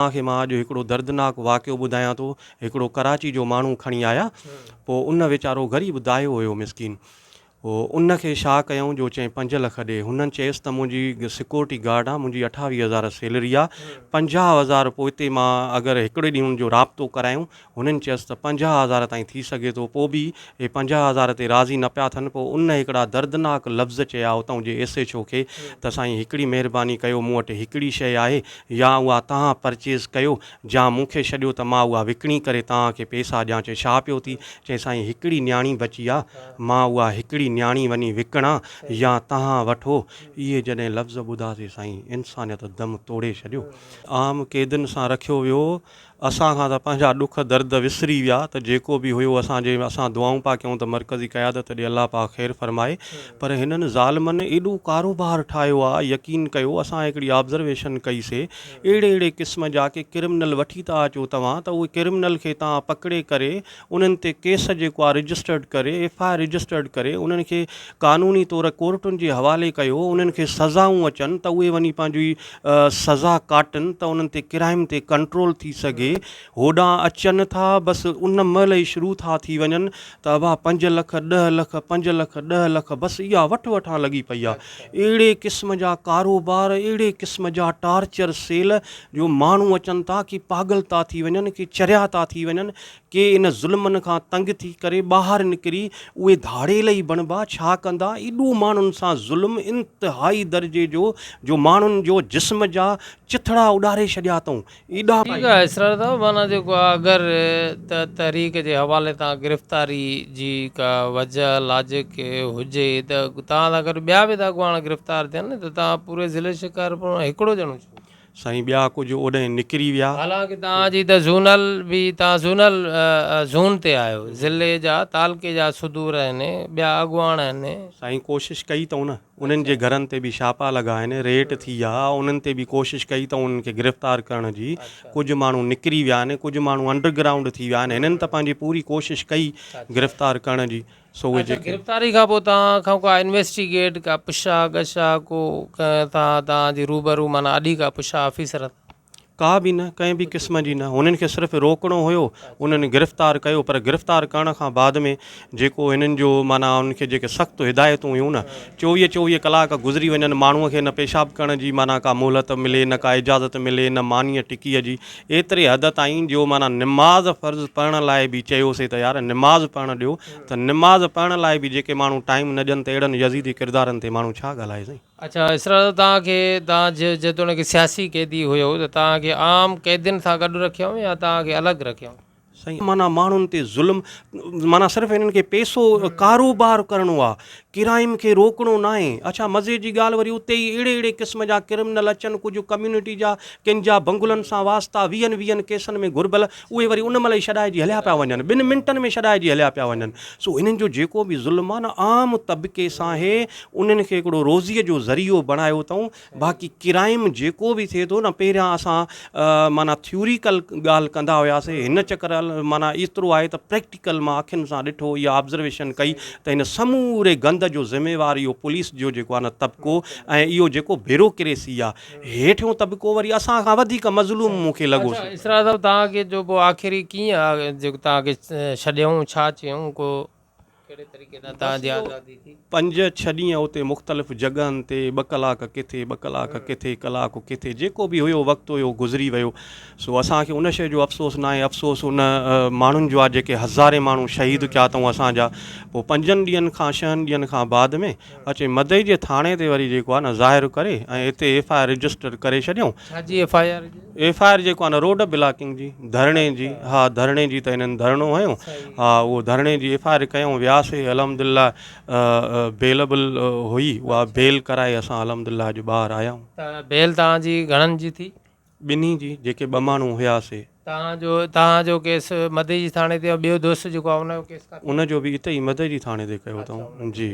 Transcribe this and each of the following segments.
اوهان کي مان اڄ هڪڙو دردناڪ واقعو ٻڌايان ٿو. هڪڙو ڪراچي جو ماڻهو کڻي آيا. پوء ان ويچارو غريب دايو هيو مسڪين. پوء ان کي شا ڪيائون جو چئين پنج لک ڏي. هنن چيس ته منهنجي سڪيورٽي گارڊ آ، منهنجي اٺاويهه هزار سيلري آ. پنجاهه هزار پوئتي مان اگر هڪڙي ڏينهن ان جو رابطو ڪرايون هنن چيس ته پنجاهه هزار تائين ٿي سگهي ٿو. پوء به اهي پنجاهه هزار تي راضي نه پيا ٿين. پوء ان هڪڙا دردناڪ لفظ چيا اتان جي ايس ايڇ او کي ته سائين هڪڙي مهرباني ڪيو مون وٽ هڪڙي شيء آهي يا اها توهان پرچيز ڪيو جا مون کي ڇڏيو ته مان اها وڪڻي ڪري توهان کي پيسا ڏيان چي ڇا پيو ٿي چي سائين هڪڙي نياڻي بچي آ مان اها هڪڙي نياڻي وڃي وڪڻان يا توهان وٺو اهي جڏهن لفظ ٻڌاسي سائين انسانيت دم توڙي ڇڏيو. عام قيدين سان رکيو ويو اسان کان ته پنهنجا ڏک درد وسري ويا ته جيڪو به هيو اسان جي اسان دعائون پيا ڪيون ته مرڪزي قيادت ڏي الله پاڪ خير فرمائي پر هنن ظالمن ايڏو ڪاروبار ٺاهيو آ يقين ڪيو اسان هڪڙي آبزرويشن ڪئي سي اهڙي اهڙي قسم جا ڪي ڪرمنل وٺي ٿا اچو توهان ته اهي ڪرمنل کي تان پڪڙي ڪري انهن تي ڪيس جيڪو آ رجسٽرڊ ڪري ايف آء آر رجسٽرڊ ڪري انهن کي قانوني طور ڪورٽن جي حوالي ڪيو انهن کي سزائون اچن ته اهي وڃي پنهنجي سزا ڪاٽن ته انهن تي ڪرائم تي ڪنٽرول ٿي سگهي هوڏانهن اچن ٿا بس ان مهل ئي شروع ٿا ٿي وڃن ته ابا پنج لک ڏهه لک پنج لک ڏهه لک بس اها وٺ وٺان لڳي پئي آ اهڙي قسم جا ڪاروبار اهڙي قسم جا ٽارچر سيل جو ماڻهو اچن ٿا ڪي پاڳل ٿا ٿي وڃن ڪي چريا ٿا ٿي وڃن ڪي ان ظلمن کان تنگ ٿي ڪري ٻاهر نڪري اهي ڌاڙيل ئي بڻبا، ڇا ڪندا؟ ايڏو ماڻهن سان ظلم انتهائي درجي جو جو ماڻهن جو جسم جا چٿڙا اڏاري ڇڏيا اٿئون. ايڏا. ٺيڪ آهي اسرار صاحب معنيٰ جيڪو آهي اگر ته تحريڪ جي حوالي تان گرفتاري جي ڪا وجه لاجڪ هجي ته توهان سان گڏ ٻيا به ته اڳواڻ گرفتار ٿين ته توهان پوري ضلعي شڪارپور مان هڪڙو ڄڻو ڇو؟ سائين ٻيا ڪجهه اوڏانهن نڪري ويا. حالانڪ توهان جي ته زونل به توهان زونل زون تي آهيو ضلعي جا تعلقي جا صدور آهن ٻيا اڳواڻ آهن. سائين ڪوشش ڪئي اتئون نه انهن جي گهرن تي به شاپا لڳا آهن ريٽ ٿي آ انهن تي به ڪوشش ڪئي اتئون انهن کي گرفتار ڪرڻ جي ڪجهه ماڻهو نڪري ويا آهن ڪجهه ماڻهو انڊر گرائونڊ ٿي ويا آهن هنن ته پنهنجي پوري ڪوشش ڪئي گرفتار ڪرڻ جي سو اهي جيڪي. گرفتاري کان پوء توهان کان ڪا انويسٽيگيٽ ڪا پڇا ڳڇا ڪو ڪنهن تان توهان جي روبرو معنيٰ اڏي ڪا پڇا آفيسر تان. ڪا به نه ڪنهن به قسم جي نه هنن کي صرف روڪڻو هيو انهن گرفتار ڪيو پر گرفتار ڪرڻ کان بعد ۾ جيڪو هنن جو معنيٰ انهن کي جيڪي سخت هدايتون هيون نه چوويهه چوويهه ڪلاڪ گذري وڃن ماڻهو کي نه پيشاب ڪرڻ جي معنيٰ ڪا مهلت ملي نه ڪا اجازت ملي نه مانيء ٽڪيء جي ايتري حد تائين جو معنيٰ نماز فرض پڙهڻ لاء به چيوسين ته يار نماز پڙهڻ ڏيو ته نماز پڙهڻ لاء به جيڪي ماڻهو ٽائيم نه ڏين ته اهڙن يزيدي ڪردارن تي ماڻهو ڇا ڳالهائي سائين. اڇا اسرار صاحب توهان کي توهان جيتوڻيڪ سياسي قيدي هيو ته توهان کي عام قيدين سان گڏ رکيائون يا توهان کي الڳ رکيائون؟ سائين معنيٰ ماڻهن تي ظلم معنيٰ صرف انهن کي پيسو ڪاروبار ڪرڻو آ ڪرائيم کي روڪڻو ناهي اڇا مزي جي ڳالهه وري اتي ئي اهڙي اهڙي قسم جا ڪرمنل اچن ڪجهه ڪميونٽي جا ڪن جا بنگلن سان واسطا ويهن ويهن ڪيسن ۾ گهربل اهي وري ان مهل ئي ڇڏائجي هليا پيا وڃن ٻن منٽن ۾ ڇڏائجي هليا پيا وڃن سو انهن جو جيڪو به ظلم آ نه عام طبقي سان هي انهن کي هڪڙو روزي جو ذريعو بڻايو اٿئون باقي ڪرائيم جيڪو به ٿئي ٿو نه پهريان اسان معنيٰ ٿيوريڪل ڳالهه ڪندا هياسي هن چڪر معنيٰ ايترو آهي ته پريڪٽيڪل مان اکين سان ڏٺو يا آبزرويشن ڪئي ته هن سموري گند جو ذميوار اهو پوليس جو جيڪو آهي نه طبقو ۽ اهو جيڪو بيروڪريسي آهي هيٺيون طبقو وري اسان کان وڌيڪ مظلوم مون کي لڳو سو اسرار صاحب توهان کي جو پوء آخري ڪيئن آ جيڪو توهان کي ڇڏيائون ڇا چيائون ڪو بس اهو پنج ڇهه ڏينهن اتي مختلف جڳهن تي ٻه ڪلاڪ ڪٿي ٻه ڪلاڪ ڪٿي ڪلاڪ ڪٿي جيڪو به هيو وقت هيو گذري ويو سو اسان کي ان شيء جو افسوس ناهي افسوس ان ماڻهن جو آهي جيڪي هزارين ماڻهو شهيد ڪيا اٿئون اسان جا پوء پنجن ڏينهن کان شهن ڏينهن کان بعد ۾ اچي مدعي جي ٿاڻي تي وري جيڪو آ نه ظاهر ڪري ۽ اتي ايف آء آر رجسٽر ڪري ڇڏيون. ڇا جي ايف آء آر جي. ايف آء آر جيڪو آ نه روڊ بلاڪنگ جي ڌرڻي جي ها ڌرڻي جي ته انهن ڌرڻو هنيو ها اهو ڌرڻي جي ايف آء آر ڪيون وياسي الحمدالله بيلبل هئي اها بيل ڪرائي اسان الحمدالله اڄ ٻاهر آيا آهيون. ته بيل توهان جي گهڻن جي ٿي. ٻنهي جي جيڪي ٻه ماڻهو هيا سي. توهان جو توهان جو ڪيس مدئجي ٿاڻي تي ۽ ٻيو دوست جيڪو آهي ان جو ڪيس ڪاٿي. ان جو به اتي ئي مدئجي ٿاڻي تي ڪيو اٿئون جي.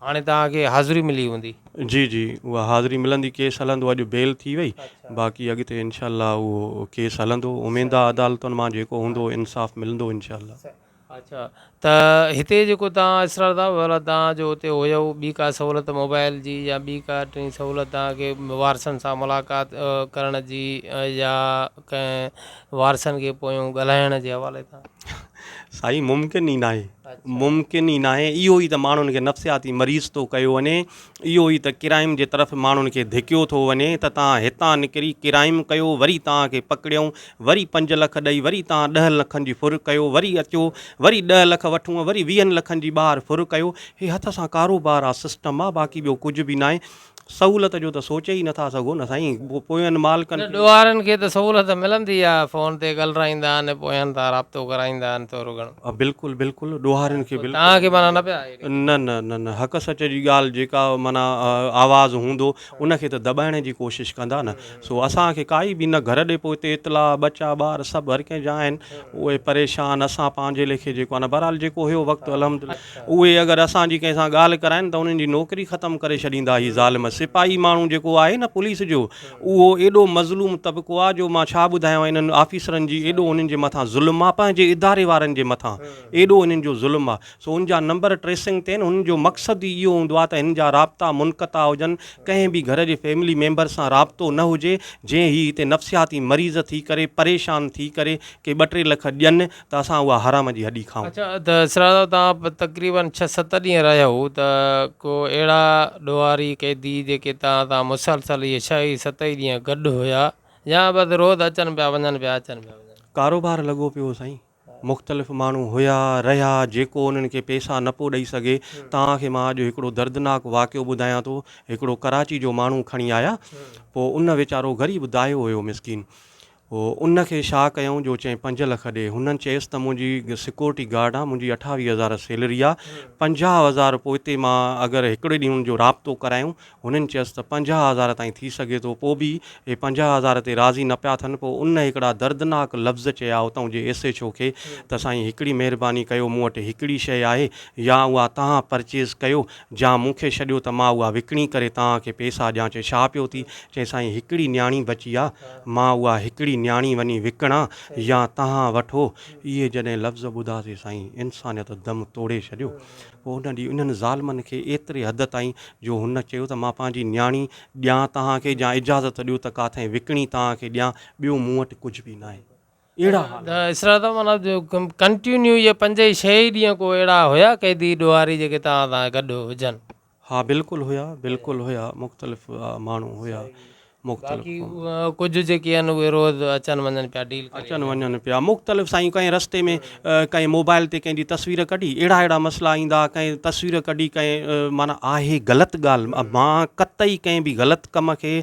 هاڻي توهان کي حاضري ملي هوندي. جي جي اها حاضري ملندي ڪيس هلندو اڄ بيل ٿي وئي باقي اڳتي انشاء الله اهو ڪيس هلندو اميندا عدالتن مان جيڪو هوندو انصاف ملندو انشاء الله. اچھا ته هتي جيڪو تان اسرار ٿا ولا تان جو هتي هيو ٻي ڪا سهولت موبائل جي يا ٻي ڪا ٽي سهولت تان کي وارثن سان ملاقات ڪرڻ جي يا ڪنهن وارثن کي پويون ڳالهائڻ جي حوالي تان سائين ممڪن ئي ناهي ممڪن ئي ناهي اهو ئي ته ماڻهن کي نفسياتي مريض ٿو ڪيو وڃي اهو ئي ته ڪرائم جي طرف ماڻهن کي ڌڪيو ٿو وڃي ته تان هتان نڪري ڪرائم ڪيو وري تان کي پڪڙيون وري پنج لک ڏئي وري تان ڏهن لکن جي ڦر ڪيو وري اچو وري ڏهه لک وٺون وري ويهن لکن جي ٻاهر ڦر ڪيو هي هٿ سان ڪاروبار آ سسٽم آ باقي ٻيو ڪجهه به ناهي سهولت جو ته سوچي ئي نٿا سگهو نه سائين پوين مالڪن کي ڏوهارن کي ته سهولت ملندي آ فون تي ڳلرائيندا آهن پوين تان رابطو ڪرائيندا آهن ٿورو گهڻو. بلڪل بلڪل ڏوهارين کي بلڪل. تان کي معنيٰ نه پيا نه نه نه نه حق سچ جي ڳالهه جيڪا معنيٰ آواز هوندو ان کي ته دٻائڻ جي ڪوشش ڪندا نه سو اسان کي ڪائي به نه گهر ڏي پوء هتي اطلاع ٻچا ٻار سڀ هر ڪنهن جا آهن اهي پريشان اسان پنهنجي ليکي جيڪو آهن بهرحال جيڪو هيو وقت الحمد اهي اگر اسان جي ڪنهن سان ڳالهه ڪرائن ته انهن جي نوڪري ختم ڪري ڇڏيندا هي ظالم سپاهي ماڻهو جيڪو آهي نه پوليس جو اهو ايڏو مظلوم طبقو آهي جو مان ڇا ٻڌايان انهن آفيسرن جي ايڏو انهن جي مٿان ظلم آهي پنهنجي اداري وارن جي مٿان ايڏو انهن جو ظلم آهي سو ان جا نمبر ٽريسنگ تي آهن انهن جو مقصد ئي اهو هوندو آهي ته هن جا رابطا منقطع هجن ڪنهن به گهر جي فيملي ميمبر سان رابطو نه هجي جي هي هتي نفسياتي مريض ٿي ڪري پريشان ٿي ڪري ڪي ٻه ٽي لک ڏين ته اسان اها حرام جي هڏي کائون. اچا ته اسرار صاحب توهان تقريبن ڇهه ست ڏينهن رهيا هو ته ڪو اهڙا ڏوهاري قيدي جيڪي توهان سان مسلسل اهي ڇهه ئي ست ئي ڏينهن گڏ هيا يا بس روز اچن پيا وڃن پيا اچن پيا وڃن پيا. ڪاروبار لڳو پيو هو سائين مختلف ماڻهو هيا، رهيا، جيڪو انهن کي پيسا نه پيو ڏئي سگهي، توهان کي مان اڄ هڪڙو دردناڪ واقعو ٻڌايان ٿو، هڪڙو ڪراچي جو ماڻهو کڻي آيا، پوء ان ويچارو غريب داهيو هيو مسڪين، پوء ان کي شا ڪيائون جو چئين پنج لک ڏي، هنن چيس ته منهنجي سڪيورٽي گارڊ آ، منهنجي اٺاويهه هزار سيلري آ، پنجاهه هزار پوئتي مان اگر هڪڙي ڏينهن جو رابطو ڪرايون، هنن چيس ته پنجاهه هزار تائين ٿي سگهي ٿو. پوء به اهي پنجاهه هزار تي راضي نه پيا ٿين. پوء ان هڪڙا دردناڪ لفظ چيا اتان جي ايس ايڇ او کي ته سائين هڪڙي مهرباني ڪيو مون وٽ هڪڙي شيء آهي يا اها تهان پرچيز ڪيو جا مون کي ڇڏيو ته مان اها وڪڻي ڪري تهان کي پيسا ڏيان چي ڇا پيو ٿي چي سائين هڪڙي نياڻي بچي آ مان اها هڪڙي نياڻي وڃي وڪڻان يا تهان وٺو اهي جڏهن لفظ ٻڌاسي سائين انسانيت دم توڙي ڇڏيو. پوء هن ڏينهن انهن ظالمن کي ايتري حد تائين جو هن چيو ته مان پنهنجي نياڻي ڏيان توهان کي يا اجازت ڏيو ته ڪاٿئين وڪڻي توهان کي ڏيان ٻيو مون وٽ ڪجهه به ناهي. اهڙا حال هئا. اسرا ته معنيٰ جو ڪنٽينيو اهي پنج ۽ ڇهه ئي ڏينهن ڪو اهڙا هيا قيدي ڏوهاري جيڪي توهان سان گڏ هجن. ها بلڪل هيا بلڪل هيا مختلف ماڻهو هيا مختلف باقي ڪجهه جيڪي آهن اهي روز اچن وڃن پيا ڊيل ڪري اچن وڃن پيا مختلف سائين ڪنهن رستي ۾ ڪنهن موبائل تي ڪنهن جي تصوير ڪڍي اهڙا اهڙا مسئلا ايندا ڪنهن تصوير ڪڍي ڪنهن معنيٰ آهي غلط ڳالهه مان قطعي ڪنهن به غلط ڪم کي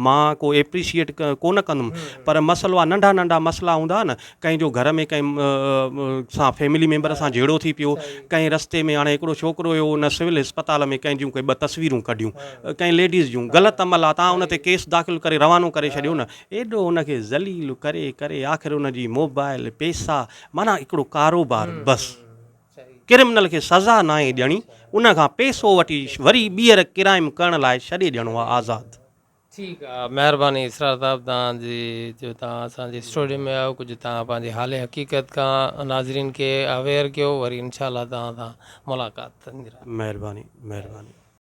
مان ڪو ايپريشيئيٽ ڪونه ڪندم پر مسئلو آهي ننڍا ننڍا مسئلا هوندا نه ڪنهن جو گهر ۾ ڪنهن سان فيملي ميمبر سان جهيڙو ٿي پيو ڪنهن رستي ۾ هاڻي هڪڙو ڇوڪرو هيو ان سول اسپتال ۾ ڪنهن جون ڪي ٻه تصويرون ڪڍيون ڪنهن ليڊيز جون غلط عمل آ تان ان تي ڪيس داخل ڪري روانو ڪري ڇڏيو نه ايڏو ان کي ذليل ڪري ڪري آخر ان جي موبائل پيسا معنيٰ هڪڙو ڪاروبار بس ڪرمنل کي سزا ناهي ڏيڻي ان کان پيسو وٺي وري ٻيهر ڪرائم ڪرڻ لاء ڇڏي ڏيڻو آ آزاد. ٺيڪ آ مهرباني اسرار صاحب توهان جي جو توهان اسان جي اسٽوڊيو ۾ آيو ڪجهه توهان پنهنجي حال حقيقت کان ناظرين کي اويئر ڪيو وري انشاء الله توهان سان ملاقات ٿيندي رهندي. مهرباني مهرباني.